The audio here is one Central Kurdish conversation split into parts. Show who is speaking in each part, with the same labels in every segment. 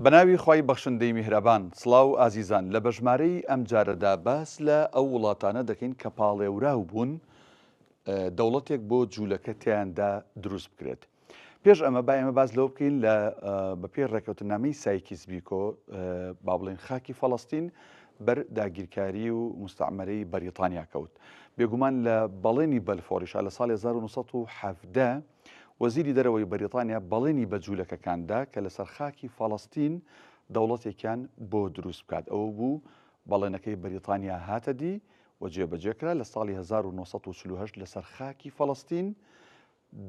Speaker 1: بەناوی خوای بەخشندەی میهرەبان. سڵاو ئازیزان لە بەژمارەی ئەم جارەدا باس لە ئەو وڵاتانە دەکەین کە پاڵێوراو بوون دەوڵەتێک بۆ جوولەکە تیاندا دروست بکرێت پێش ئەمە با ئێمە باس لەوە بکەین لە بەپێی ڕێکەوتنامەی سایکیس بیکۆ با بڵێن خاکی فەڵستین بەر داگیرکاری و مستعمەرەی بەریتانیا کەوت بێگومان لە بەڵێنی بەلفۆریشا لە ساڵی 1970 وەزیری دەرەوەی بەریتانیا بەڵێنی بە جوولەکەکان دا کە لەسەر خاکی فەڵەستین دەوڵەتێکیان بۆ دروست بکات، ئەوە بوو بەڵێنەکەی بەریتانیا هاتە دی و جێبەجێ کرا، لە ساڵی هەزار و نۆ سەد و چل و هەشت لەسەر خاکی فەڵەستین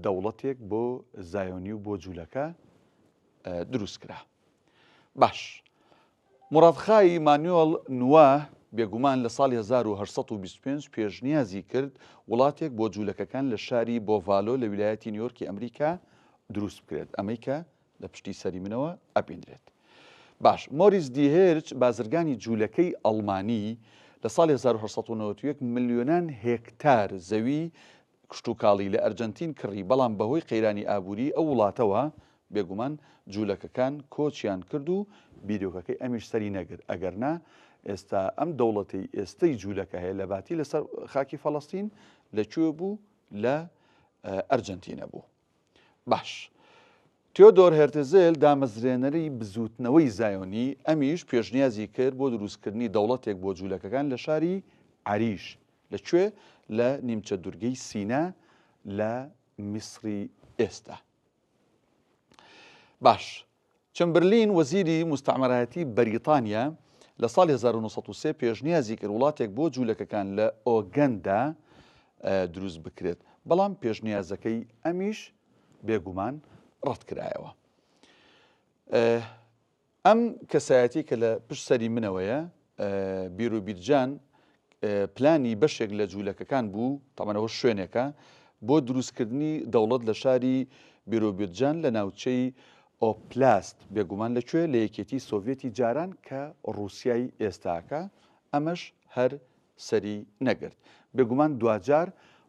Speaker 1: دەوڵەتێک بۆ زایۆنی و بۆ جوولەکە دروست کرا. باش. موراد خای، مانوێڵ نواه، بێگومان لە ساڵی هەزار و هەشت سەد و بیست و پێنج پێشنیازی کرد وڵاتێک بۆ جوولەکەکان لە شاری بۆڤالۆ لە ویلایەتی نیویۆرکی ئەمریکا دروست بکرێت، ئەمەی کە لە پشتی سەری منەوە ئەبینرێت. باش، مۆریس دی هێرچ، بازرگانی جوولەکەی ئەڵمانی، لە ساڵی هەزار و هەشت سەد و نەوەد و یەک ملیۆنان هێکتار زەوی کشتوکاڵی لە ئەرجەنتین کڕی، بەڵام بەهۆی قەیرانی ئابووریی ئەو وڵاتەوە، بێگومان جوولەکەکان کۆچیان کرد و بیرۆکەکەی ئەمیش سەری نەگرت، ئەگەرنا ئێستا ئەم دەوڵەتەی ئێستەی جوولەکە هەیە لەباتی لەسەر خاکی فەڵەستین لە کوێ بوو؟ لە ئەرجەنتینە بوو. باش. تیۆدۆر هێرتزل دامەزرێنەری بزووتنەوەی زایۆنی، ئەمیش پێشنیازی کرد بۆ دروستکردنی دەوڵەتێک بۆ جوولەکەکان لە شاری عەریش. لە کوێ؟ لە نیمچە دورگەی سینا لە میسری ئێستا. باش، چەمبرلین وەزیری موستەعمەرایەتی بەریتانیا لە ساڵی هەزار و نۆ سەد و سێ پێشنیازی کرد وڵاتێک بۆ جوولەکەکان لە ئۆگەندا دروست بکرێت، بەڵام پێشنیازەکەی ئەمیش بێگومان ڕەتکرایەوە. ئەم کەسایەتی کە لە پشت سەری منەوەیە بیروبیرجان پلانی بەشێک لە جوولەکەکان بوو، تەبەن ئەوە شوێنێکە، بۆ دروستکردنی دەوڵەت لە شاری بیروبیرجان لە ناوچەی، ئۆپلاست، بێگومان لە کوێ؟ لە یەکێتی سۆڤیەتی جاران کە ڕووسیای ئێستاکە، ئەمەش هەر سەری نەگرت. بێگومان دواجار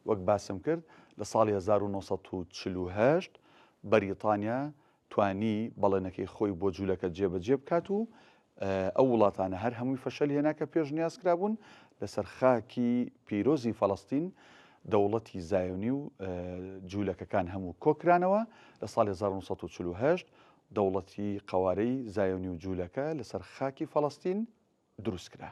Speaker 1: وەک باسم کرد لە ساڵی هەزار و نۆ سەد و چل و هەشت بەریتانیا توانی بەڵێنەکەی خۆی بۆ جولەکە جێبەجێ بکات و ئەو وڵاتانە هەر هەمووی فەشەل هێنا کە پێشنیاز کرابوون لەسەر خاکی پیرۆزی فەڵەستین دەوڵەتی زایۆنی و جوولەکەکان هەموو کۆکرانەوە لە ساڵ 1940 دەوڵەتی قوارەی زایۆنی و جوولەکە لەسەر خاکی فەڵەستین دروستکرا